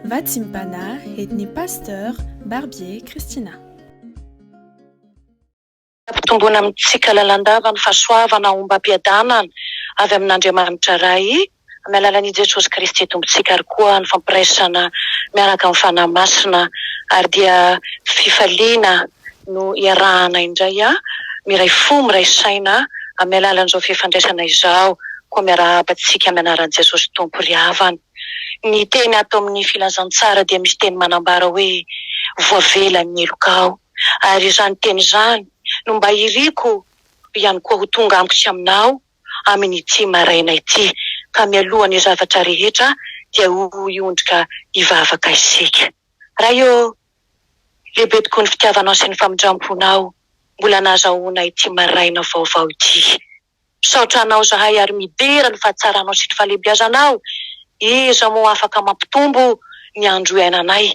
Vatsimbana edn'ny Pasteur Barbier Christina. Ampitomboina amintsika lalandava ny fahasoavana ombam-piadanana avy amin'Andriamanitra Ray amin'ny alalan'I Jesosy Kristy Tompontsika ary koa ny fampiraisana miaraka amin'ny Fanahy Masina ary dia fifaliana no iarahana indray a! Miray fo, miray saina amin'ny alalan'izao fifandraisana izao koa miarahaba antsika amin'ny anaran'i Jesosy Tompo ry havana. Ny teny ato amin'ny filazantsara dia misy teny manambara hoe voavela ny heloka aho ary izany teny izany no mba iriko ihany koa ho tonga amiko sy aminao amin'ity maraina ity ka mialoha ny zavatra rehetra dia ho hiondrika hivavaka isika. Ray ô! Lehibe tokoa ny fitiavanao sy ny famindramponao mbola nahazahoana ity maraina vaovao ity. Misaotra anao izahay ary midera ny fahatsaranao sy ny fahalehibiazanao. Iza moa afaka mampitombo ny andro iainanay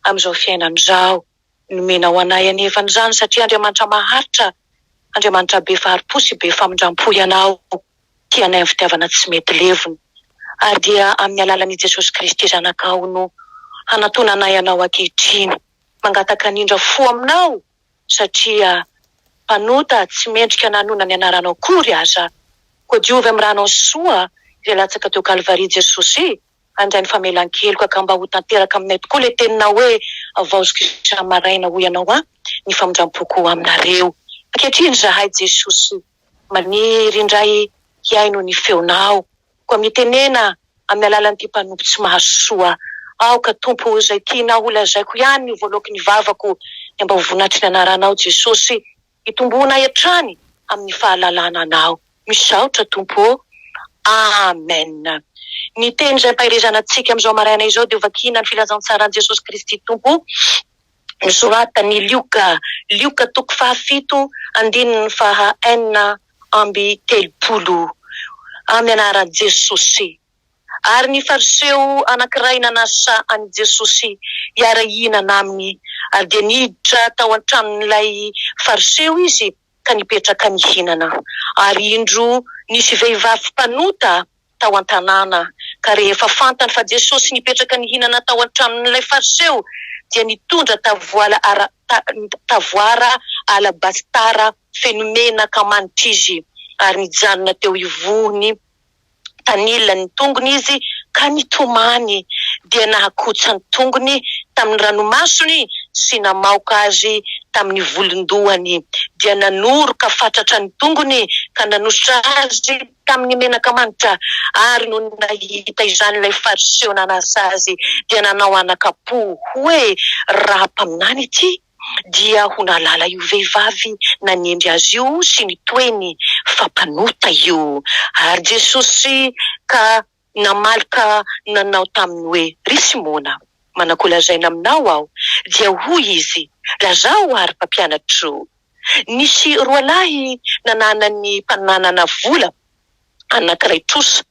amin'izao fiainana izao. Nomenao anay anefa an'izany satria Andriamanitra maharitra, Andriamanitra be fahari-po sy be famindrampo Ianao. dia anay amin'ny fitiavana tsy mety levona. Ary dia amin'ny alalan'I Jesosy Kristy Zanakao no hanatonanay anao ankehitriny. Mangataka an'Indra fo aminao satria mpanota tsy mendrika nanona ny anaranao akory aza. Koa diovy amin'ny ranao soa izay latsaka teo Kalvary Jesosy e! Handray ny famelan-keloka ka mba ho tanteraka aminay tokoa ilay teninao hoe Havaoziko isa-maraina hoy ianao aho ny famindram-poko ho aminareo. Ankehitriny izahay Jesosy. Maniry indray hihaino ny feonao. Koa mitenena amin'ny alalan'ity mpanompo tsy mahazo soa. Aoka, Tompo, ho izay tianao holazaiko ihany ny voaloakin'ny vavako, dia mba ho vonatry ny anaranao, Jesosy, hitomboanay hatrany amin'ny fahalalana anao. Misaotra, Tompo ô. Amen. Ny teny izay ampaherezana antsika amin'izao maraina izao dia ho vakiana ny Filazantsaran'i Jesosy Kristy Tompo. nosoratan'i Lioka, Lioka toko fahafito andininy faha enina amby telopolo, amin'ny anaran'i Jesosy. Ary ny Fariseo anankiray nanasa an'i Jesosy hiara-hihinana aminy, ary dia niditra tao an-tranon'ilay Fariseo izy. ka nipetraka nihinana. Ary indro nisy vehivavy mpanota tao an-tanàna, ka rehefa fantany fa Jesosy nipetraka nihinana tao an-tranon'ilay Fariseo, dia nitondra tavoala tavoara alabasitara feno menaka manitra izy, ary nijanona teo ivohony. tanilan'ny tongony izy ka nitomany dia nahakotsa ny tongony tamin'ny ranomasony sy namaoka azy tamin'ny volon-dohany dia nanoroka fatratra ny tongony ka nanosotra azy tamin'ny menaka manitra ary nony nahita izany ilay fariseo nanasa azy dia nanao anaka-po hoe raha mpaminany ity dia ho nahalala io vehivavy nanendry azy io sy ny toeny fa mpanota io ary Jesosy ka namaly ka nanao taminy hoe, Ry Simona, manakô lazaina aminao aho? Dia hoy izy, Lazao ary Mpampianatro. Nisy roalahy nanana ny mpananana vola anankiray trosa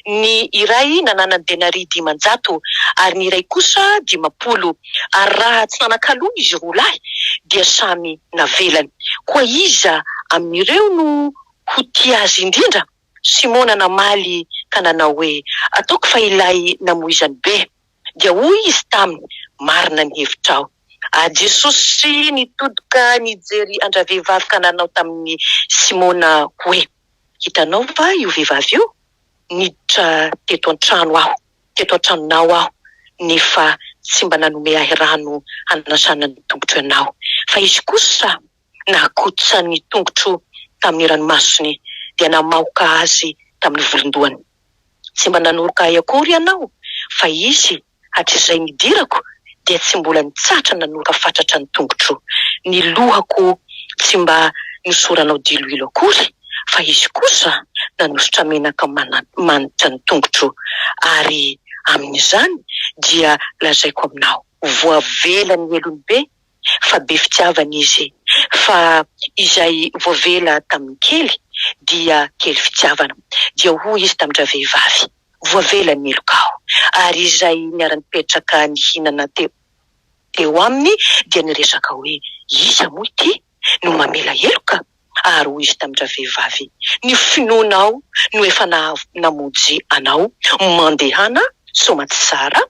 ny iray nananany denaria dimanjato, ary ny iray kosa dimampolo, ary raha tsy nanan-kaloa izy roa lahy, dia samy navelany. Koa iza amin'ireo no ho tia azy indrindra? Simona namaly ka nanao hoe, Ataoko fa ilay namoizany be. Dia hoy izy taminy, Marina ny hevitrao. Ary Jesosy nitodika nijery an-dravehivavy kananao tamin'i Simona hoe, Hitanao va io vehivavy io? Niditra teto an-trano aho, teto an-tranonao aho, nefa tsy mba nanome ahy rano hanasana ny tongotro ianao, fa izy kosa, nakotosa ny tongotro tamin'ny ranomasony dia namaoka azy tamin'ny volon-dohany. Tsy mba nanoroka ahy akory ianao, fa izy hatrizay nidirako dia tsy mbola nitsatra nanoroka fatratra ny tongotro. Ny lohako tsy mba nosoranao diloilo akory, fa izy kosa nanosotra menaka manitra ny tongotro, ary amin'izany dia lazaiko aminao. Voavela ny helony be fa be fitiavana izy, fa izay voavela tamin'ny kely dia kely fitiavana. Dia hoy izy tamin-dravehivavy, Voavela ny meloka aho. Ary izay niara-nipetraka nihinana teo teo aminy dia niresaka hoe, Iza moa ity no mamela heloka? Ary hoy izy tamin-dravehivavy, Ny finoanao no efa namonjy anao. Mandehana soa aman-tsara.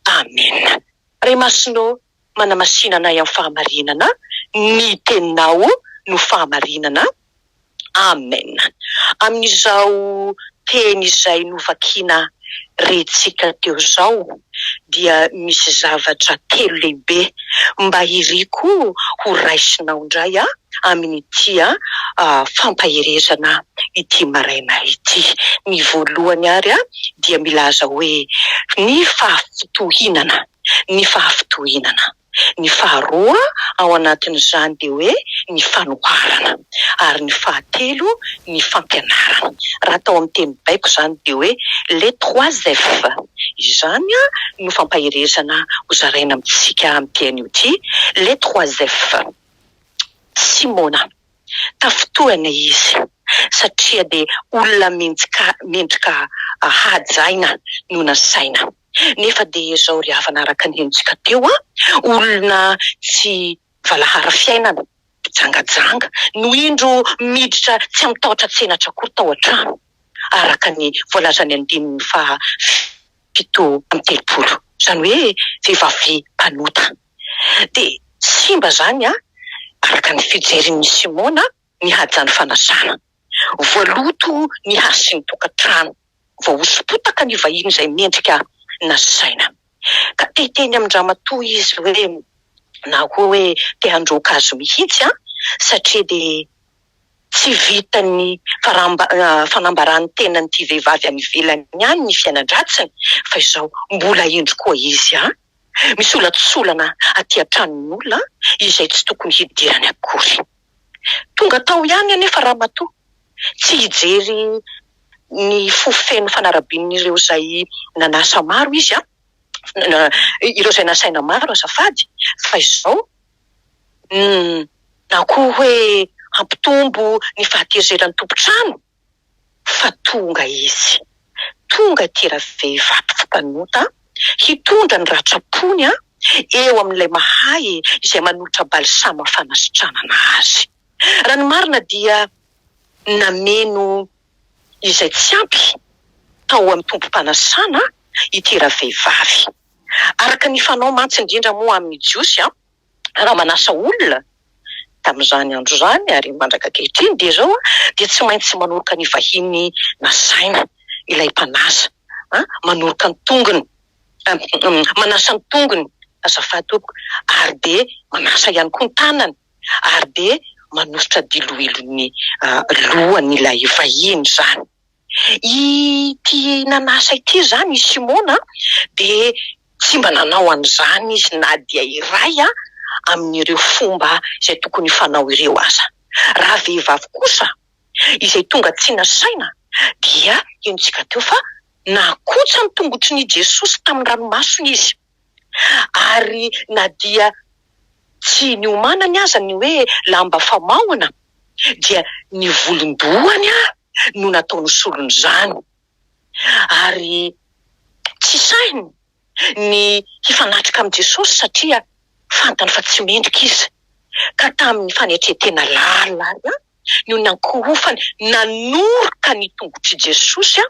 Amena. Ray Masina ô, manamasinanay amin'ny fahamarinana, ny Teninao no fahamarinana. Amen. Amin'izao teny izay novakina rentsika teo izao dia misy zavatra telo lehibe mba iriko ho raisinao indray amin'ity fampaherezana ity maraina ity. Ny voalohany ary dia milaza hoe ny fahafitohinana. ny fahafitohinana. Ny faharoa ao anatin'izany dia hoe ny fanoharana ary ny fahatelo ny fampianarana. Raha atao amin'ny teny baiko izany dia hoe les trois F. Izany no fampaherezana ho zaraina amintsika amin'ity anio ity, les trois F. Simona, tafintohina izy satria dia olona mendrika hajaina no nasaina. nefa dia zao ry havana araka ny henontsika teo a, olona tsy valahara fiainana, mpijangajanga no indro miditra tsy amin'ny tahotra tsenatra akory tao an-trano, araka ny voalazan'ny andininy faha fito amby telopolo, izany hoe vehivavy mpanota. Dia simba izany araka ny fijerin'i Simona ny hajan'ny fanasana. Voaloto ny hasin'ny tokantrano, vao hoso-potaka ny vahiny izay mendrika nasaina. Ka te hiteny amin-dramatoa izy hoe, na koa hoe te handroaka azy mihitsy an, satria dia tsy vitan'ny fanambaran'ny tenan'ity vehivavy any ivelany ihany ny fiainan-dratsiny, fa izao mbola hendry koa izy an! Misolatsolana aty an-tranon'olona izay tsy tokony hidirany akory. Tonga tao ihany anefa Ramatoa, tsy hijery ny fo feno fanarabian'ireo izay nanasa maro izy, ireo izay nasaina maro azafady, fa izao na koa hoe hampitombo ny fahatezeran'ny tompon-trano. fa tonga izy. Tonga ity ravehivavy mpanota hitondra ny ratram-pony eo amin'ilay mahay izay manolotra balsama fanasitranana azy. Raha ny marina dia nameno izay tsy ampy tao amin'ny tompom-panasana ity ravehivavy. Araka ny fanao mantsy indrindra moa amin'ny Jiosy raha manasa olona tamin'izany andro izany ary mandraka ankehitriny dia izao dia tsy maintsy manoroka ny vahiny nasaina ilay mpanasa an, manoroka ny tongony, manasa ny tongony azafady tompoko, ary dia manasa ihany koa ny tanany ary dia manosotra diloilo ny lohany ilay vahiny izany. Ity nanasa ity izany i Simona dia tsy mba nanao an'izany izy na dia iray amin'ireo fomba izay tokony fanao ireo aza. Raha vehivavy kosa izay tonga tsy nasaina dia henontsika teo fa nakotsa ny tongotrin'i Jesosy tamin'ny ranomasony izy. Ary na dia tsy niomanany aza ny hoe lamba famaohana, dia ny volon-dohany no nataony solon'izany. Ary tsy sahiny ny hifanatrika amin'i Jesosy, satria fantany fa tsy mendrika izy, ka tamin'ny fanetren-tena lalina no nankohofany nanoroka ny tongotr'i Jesosy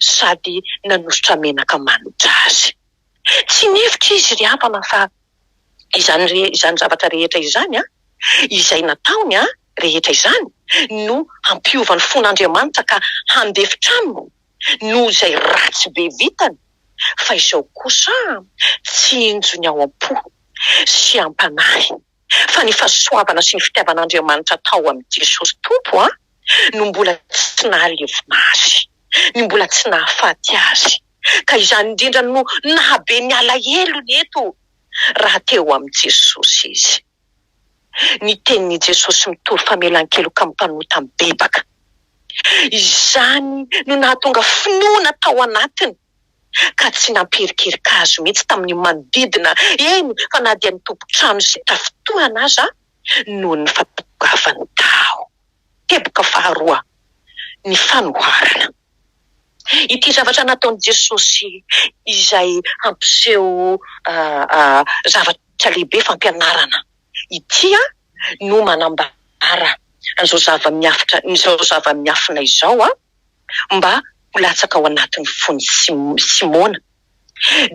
sady nanosotra menaka manitra azy. Tsy mihevitra izy ry Abana fa izany izany zavatra rehetra izany, izay nataony rehetra izany, no hampiova ny fon'Andriamanitra ka handefitra aminy noho izay ratsy be vitany, fa izao kosa tsinjo ny ao am-po sy am-panahy. fa ny fahasoavana sy ny fitiavan'Andriamanitra tao amin'i Jesosy Tompo no mbola tsy nahalevona azy, no mbola tsy nahafaty azy. Ka izany indrindra no nahabe ny alahelony eto, raha teo amin'i Jesosy izy. Ny tenin'i Jesosy mitory famelan-keloka amin'ny mpanota mibebaka. Izany no nahatonga finoana tao anatiny. ka tsy nampierikerika azy mihitsy tamin'ny manodidina, eny fa na dia ny tompon-trano izay tafintohana aza noho ny fahatongavany tao. Teboka faharoa, ny fanoharana. Ity zavatra nataon'i Jesosy izay hampiseho zavatra lehibe fampianarana ity no manambara an'izao zava-miafina izao. mba ho latsaka ao anatin'ny fon'i Simona,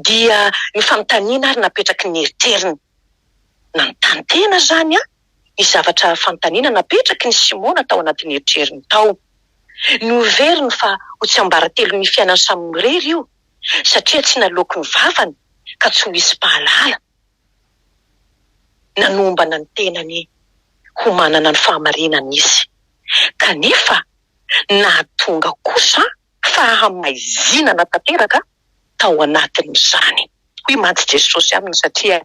dia ny fanontaniana ary napetraky ny eritreriny. Nanontany tena izany ny zavatra fanontaniana napetraky ny Simona tao anatin'ny eritreriny tao. Noheveriny fa ho tsiambaratelon'ny fiainany samy irery io, satria tsy naloaky ny vavany ka tsy ho hisy mpahalala. Nanombana ny tenany ho manana ny fahamarinana izy, kanefa nahatonga kosa fahamaizinana tanteraka tao anatin'izany. Hoy mantsy Jesosy aminy, satria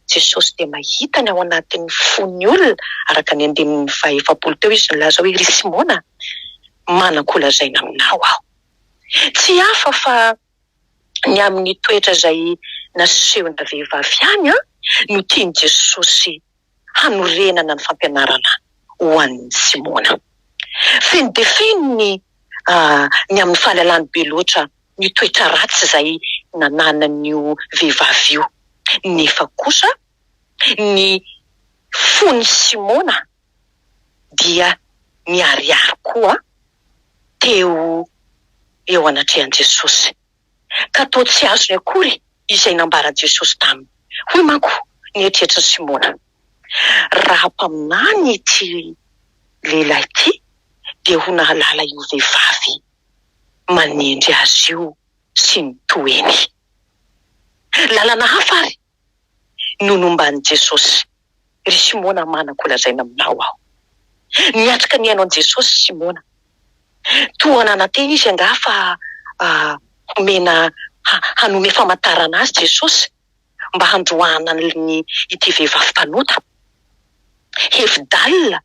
Jesosy dia mahita ny ao anatin'ny fon'ny olona, araka ny andininy fahaefapolo teo, izy nilaza hoe, Ry Simona, manan-ko lazaina aminao aho. Tsy hafa fa ny amin'ny toetra izay nasehon'ilay vehivavy ihany no tian'i Jesosy hanorenana ny fampianarana ho an'ny tsy moana. Feno dia feno ny ny amin'ny fahalalany be loatra ny toetra ratsy izay nananan'io vehivavy io, nefa kosa ny fon'i Simona dia niharihary koa teo eo anatrehan'i Jesosy. ka toa tsy azony akory izay nambaran'i Jesosy taminy. Hoy manko ny eritreritrin'i Simona, Raha mpaminany ity lehilahy ity, dia ho nahalala io vehivavy manendry azy io sy ny toeny. Lalana hafa àry no nomban'i Jesosy, Ry Simona manako ho lazaina aminao aho. Niatrika ny haino an'i Jesosy Simona. Toa nanantena izy angaha fa homena hanome famantarana azy Jesosy mba handroahana an'lny ity vehivavy mpanota. Hevi-dalina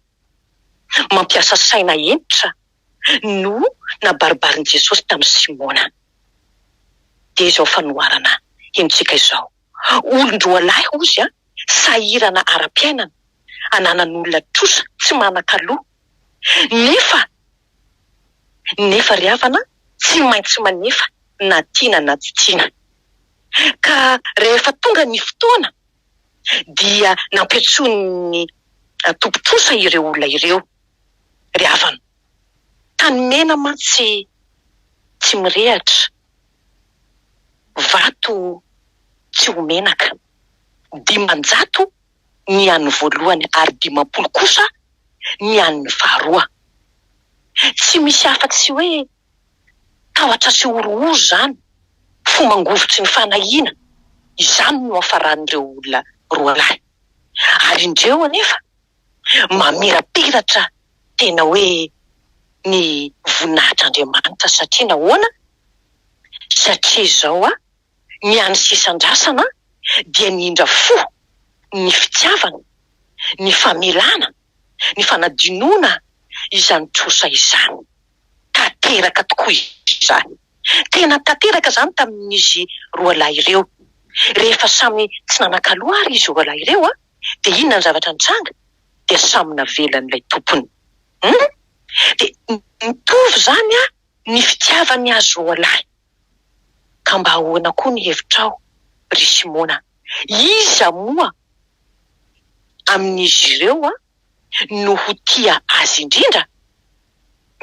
mampiasa saina hentitra no nabaribarin'i Jesosy tamin'i Simona. Dia izao fanoharana henontsika izao, Olon-droalahy, hozy, sahirana ara-piainana, ananan'olona trosa, tsy manan-kaloa, nefa nefa ry havana tsy maintsy manefa na tiana na tsy tiana. Ka rehefa tonga ny fotoana dia nampiantsoin'ny tompon-trosa ireo olona ireo. ry havana. Tany mena mantsy tsy mirehatra, vato tsy ho menaka. Dimanjato ny an'ny voalohany ary dimampolo kosa ny an'ny faharoa. Tsy misy afa-tsy hoe tahotra sy horohoro izany, fo mangovitry ny fanahiana, izany no hafaran'ireo olona roalahy. Ary indreo anefa mamirapiratra tena hoe ny voninahitr'Andriamanitra satria nahoana? satria izao a, ny an'ny sisandrasana a, dia ny indra fo, ny fitiavana, ny famelana, ny fanadinoana izany trosa izany. Tanteraka tokoa izany. Tena tanteraka izany tamin'izy roalahy ireo. Rehefa samy tsy nanan-kaloa ary izy roalahy ireo a, dia inona ny zavatra nitranga? Dia samy navela an'ilay tompony. Humm! Dia mitovy izany an ny fitiavany azy roalahy. Ka mba ahoana koa ny hevitrao ry Simona? Iza moa amin'izy ireo an no ho tia azy indrindra?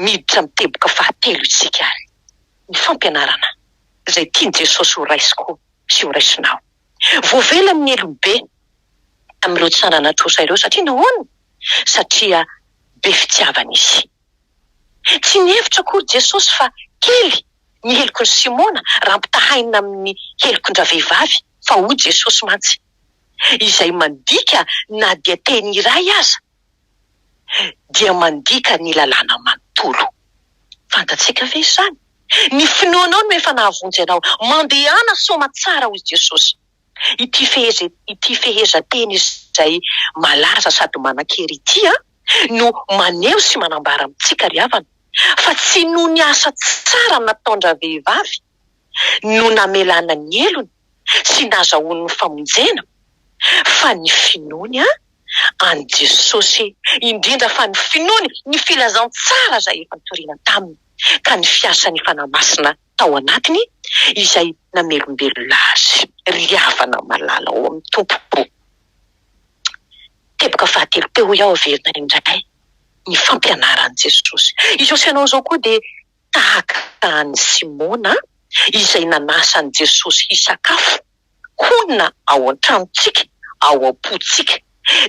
Miditra amin'ny teboka fahatelo isika ary ny fampianarana izay tian'i Jesosy horaisiko sy horaisinao. Voavela amin'ny heloka be amin'ireo tsy nanana trosa ireo. Satria nahoana? Satria be fitiavana izy. Tsy nihevitra akory Jesosy fa kely ny helokin'i Simona raha ampitahaina amin'ny helokon-dravehivavy, fa hoy Jesosy mantsy, Izay mandika na dia teny iray aza dia mandika ny lalàna manontolo. Fantatsika ve izany? Ny finoanao no efa nahavonjy anao. Mandehana soamatsara, hoy Jesosy. Ity feheza ity fehezanteny izay malaza sady manan-kery ity no maneho sy manambara amintsika ry havana, fa tsy noho ny asa tsara nataon-dravehivavy no namelana ny helony sy nazahoany ny famonjena fa ny finoany an'i Jesosy, indrindra fa ny finoany ny filazantsara izay efa nitoriana taminy, ka ny fiasan'ny Fanahy Masina tao anatiny izay namelombelona azy. Ry havana malala ao amin'ny Tompo, teboka fahatelo teo hoe averina indray ny fampianaran'i Jesosy. Izao sy ianao izao koa dia tahaka an'i Simona izay nanasa an'i Jesosy hisakafo, honina ao an-tranontsika, ao am-pontsika.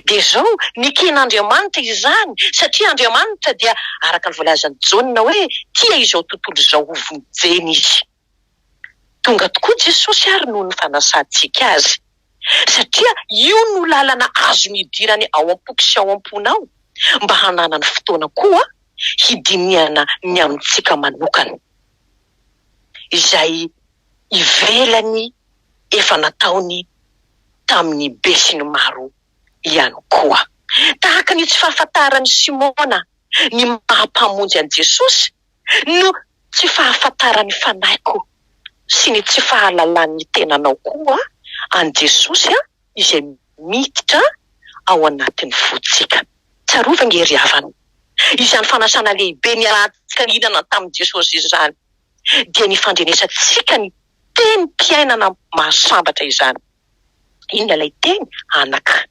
Dia izao, neken'Andriamanitra izany, satria Andriamanitra dia, araka ny voalazan'i Jaona hoe, tia izao tontolo izao ho vonjena Izy. Tonga tokoa Jesosy ary noho ny fanasantsika Azy. satria io no lalana azony hidirany ao am-poko sy ao am-ponao mba hananany fotoana koa hidinihana ny amintsika manokana izay ivelany efa nataony tamin'ny besinimaro ihany koa. Tahaka ny tsy fahafantaran'i Simona ny maha Mpamonjy an'i Jesosy no tsy fahafantaran'ny fanahiko sy ny tsy fahalalan'ny tenanao koa an'i Jesosy izay miditra ao anatin'ny fontsika. Tsarovy ange ry havana, izany fanasana lehibe niarahantsika nihinana tamin'i Jesosy izany dia ny fandrenesantsika ny tenim-piainana mahasambatra izany. Inona ilay teny? Anaka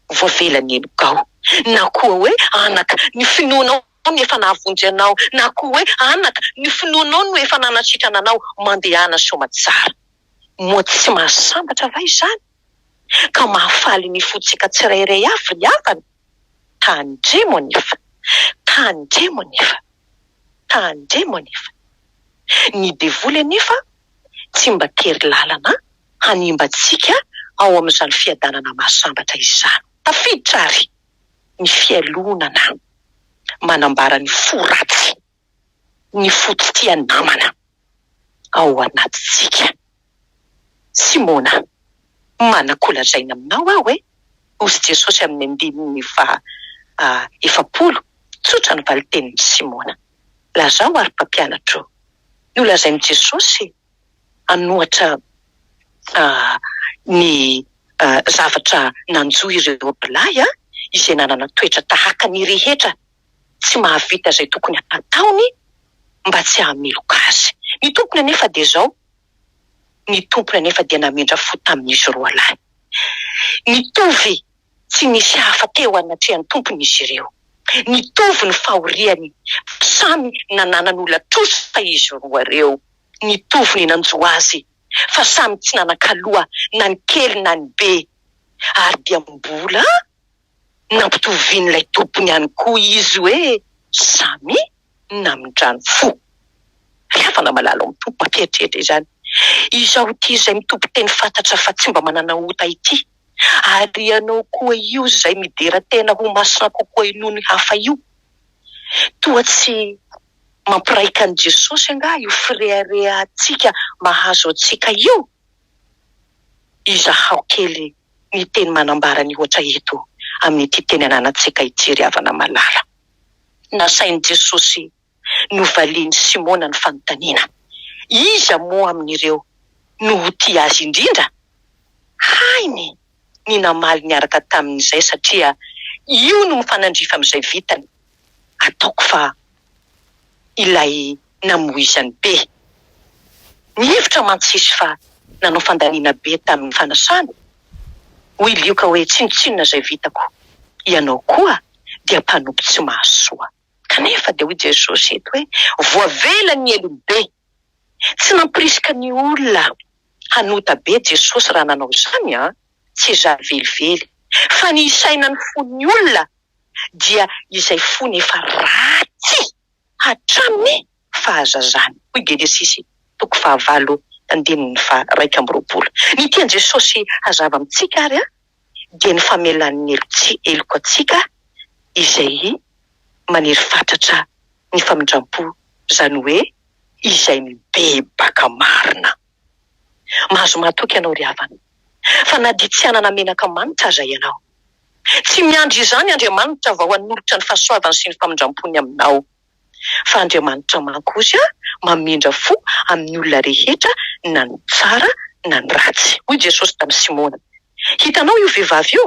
voavela ny henokao, na koa hoe anaka ny finoanao. Ny efa nahavonjy anao na koa hoe anaka, ny finoanao no efa nanasitrana anao mandehana soamatsara. Moa tsy mahasambatra va izany? Ka mahafaly ny fontsika tsirairay avy ry havana? Tandremo anefa! Tandremo anefa! Tandremo anefa! Ny devoly anefa tsy mba tery lalana hanimba antsika ao amin'izany fiadanana mahasambatra izany. Tafiditra àry ny fialonana manambara ny fo ratsy, ny fo tsy tia namana ao anatintsika. Simona, manan-kolazaina aminao aho e! hoy Jesosy amin'ny andininy faha efapolo. Tsotra ny valintenin'i Simona. Lazao ary mpampianatro, nolazain'i Jesosy an'ohatra ny zavatra nanjo ireo roalahy izay nanana toetra tahaka ny rehetra tsy mahavita izay tokony hataony mba tsy hahameloka azy. Ny tompony anefa dia izao, ny tompony anefa dia namindra fo tamin'izy roalahy. Nitovy tsy nisy hafa teo anatrehan'ny tompony izy ireo. Nitovy ny fahoriany fa samy nanana ny ola-trosa izy roa ireo. nitovy ny nanjo azy fa samy tsy nanan-kaloha na ny kely na ny be ary dia mbola nampitovian'ilay tompony ihany koa izy hoe samy namindrany fo. Ry havana malala ao amin'ny Tompo, mampieritreritra izany izaho ity izay mitoby teny fantatra fa tsy mba manana ota ity, ary ianao koa io izay midera tena ho masina kokoa noho ny hafa io toa tsy Mampiraika an'i Jesosy angaha io fireharehantsika mahazo antsika io? Izahao kely ny teny manambara ny ohatra eto amin'ity teny ananantsika ity ry havana malala. Nasain'i Jesosy novalian'i Simona ny fanontaniana, Iza moa amin'ireo no ho tia Azy indrindra? Hainy! ny namaly niaraka taminy izay satria io no mifanandrify amin'izay vitany, ataoko fa ilay namoizany be ny hevitra mantsy izy fa nanao fandaniana be tamin'ny fanasana, hoy Lioka hoe tsinontsinona izay vitako, ianao koa dia mpanompo tsy mahasoa. Kanefa dia hoy Jesosy eto hoe voavela ny helobe. Tsy nampirisika ny olona hanota be Jesosy raha nanao izany an! Tsy izany velively. Fa ny hisaina ny fon'ny olona dia izay fony efa ratsy hatramin'ny fahazazany. Hoy Genesisy toko fahavalo andininy faharaika amby roapolo. Ny tian'i Jesosy hazava amintsika ary dia ny famelany ny heloka antsika izay maniry fatratra ny famindrampo, izany hoe izay mibebaka marina. Mahazo mahatoky ianao ry havana, fa na dia tsy hanana menaka manitra aza ianao. Tsy miandry izany Andriamanitra vao hanolotra ny fahasoavany sy ny famindrampony aminao. fa Andriamanitra manko ozy a mamindra fo amin'ny olona rehetra na ny tsara na ny ratsy. Hoy Jesosy tamin'i Simona, Hitanao io vehivavy io?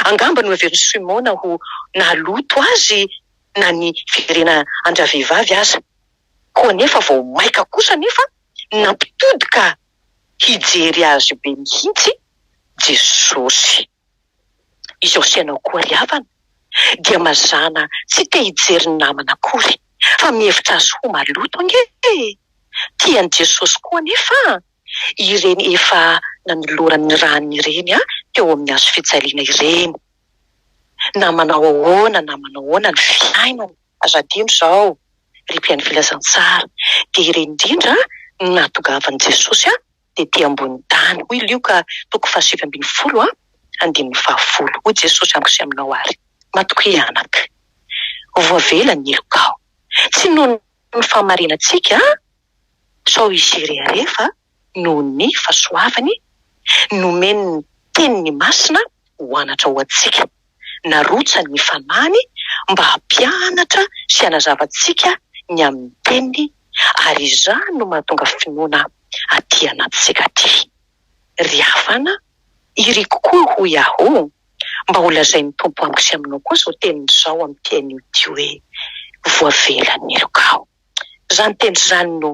Angamba noheverin'i Simona ho naloto azy na ny fijerena an-dravehivavy aza, koa anefa vao maika kosa anefa nampitodika hijery azy be mihitsy Jesosy. izao fiainako koa ry havana dia mazàna tsy te hijery ny namana akory fa mihevitra azy ho maloto ange e! tian'i Jesosy koa anefa ireny efa nanoloran'ny ràny ireny teo amin'ny hazo fijaliana ireny na manao ahoana na manao ahoana ny fiainana aza adino izao ry mpihaino filazantsara dia ireny indrindra no nahatongavan'i Jesosy tetỳ ambony tany. Hoy Lioka toko fahasivy ambin'ny folo andininy fahafolo, Hoy Jesosy amiko sy aminao àry, Matokia anaka. Voavela ny heloka aho. Tsy noho ny fahamarinantsika, sao hisy hirehareha, fa noho ny fahasoavany, nomen'ny Teniny Masina ho anatra ho antsika. narotsany ny fanahy mba hampianatra sy hanazava antsika ny amin'ny Teniny ary izany no mahatonga finoana aty anatintsika aty. Ry havana, iriko koa hoy aho, mba ho lazain'ny Tompo amiko sy aminao koa izao teniny izao amin'ity anio ity hoe, Voavelan'ny helokao. Izany teny izany no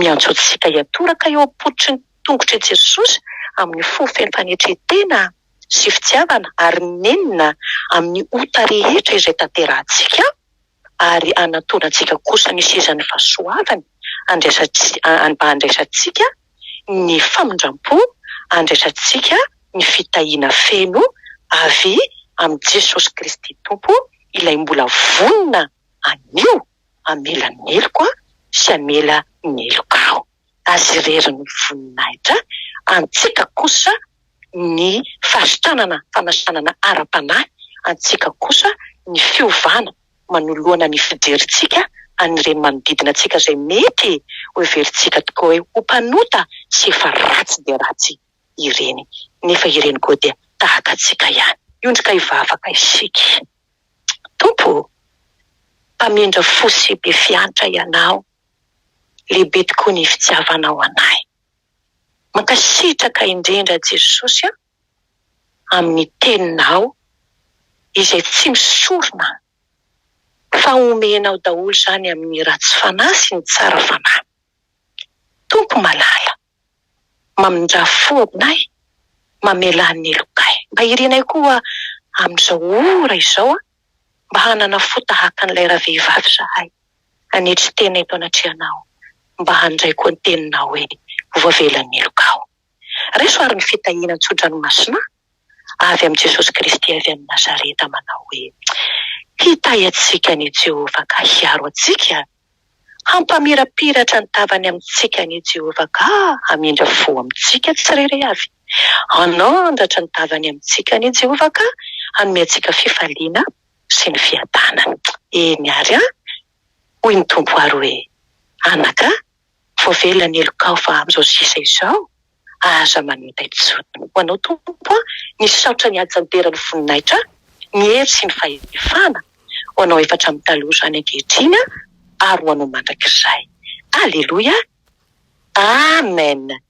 miantso antsika hiatoraka eo am-pototry ny tongotr'i Jesosy amin'ny fo feno fanetren-tena sy fitiavana ary nenina amin'ny ota rehetra izay tanterahantsika ary hanantonantsika kosa ny sezan'ny fahasoavany mba handraisantsika ny famindram-po, handraisantsika ny fitahiana feno avy amin'i Jesosy Kristy Tompo ilay mbola vonona anio. hamela ny heloko aho sy hamela ny heloka aho. Azy irery ny voninahitra, antsika kosa ny fahasitanana, fanasanana ara-panahy, antsika kosa ny fiovana manoloana ny fijerintsika an'ireny manodidina antsika izay mety hoheverintsika tokoa hoe ho mpanota sy efa ratsy dia ratsy ireny, nefa ireny koa dia tahaka antsika ihany. Hiondrika hivavaka isika. Tompo ô! Mpamindra fo sy be fiantra Ianao, lehibe tokoa ny fitiavanao anay. Mankasitraka indrindra Jesosy a, amin'ny Teninao izay tsy misorona fa omenao daholo izany amin'ny ratsy fanahy sy ny tsara fanahy. Tompo malala. Mamindrà fo aminay, mamelà ny lokay. Mba irinay koa amin'izao ora izao mba hanana fo tahaka an'ilay ravehivavy izahay, hanetry tena eto anatrehanao, mba handray koa ny teninao hoe, Voavela ny helokao. Raiso àry ny fitahiana tso-dranomasinà avy amin'i Jesosy Kristy avy any Nazareta manao hoe, Hitahy antsika an' i Jehovah ka hiaro antsika, hampamirapiratra ny tavany amintsika an' i Jehovah ka hamindra fo amintsika tsirairay avy, hanandratra ny tavany amintsika an' i Jehovah ka hanome antsika fifaliana sy ny fiadanana. Eny àry an! hoy ny Tompo àry hoe, Anaka, Voavela ny heloka aho fa amin'izao sisa izao aza manota intsony. Ho Anao Tompo aho misaotra ny hajanteran'ny voninahitra, ny hery sy ny fahefana. Ho Anao efa hatramin'ny taloha izany ankehitriny aho ary ho Anao mandrakizay. Aleloia. Amen.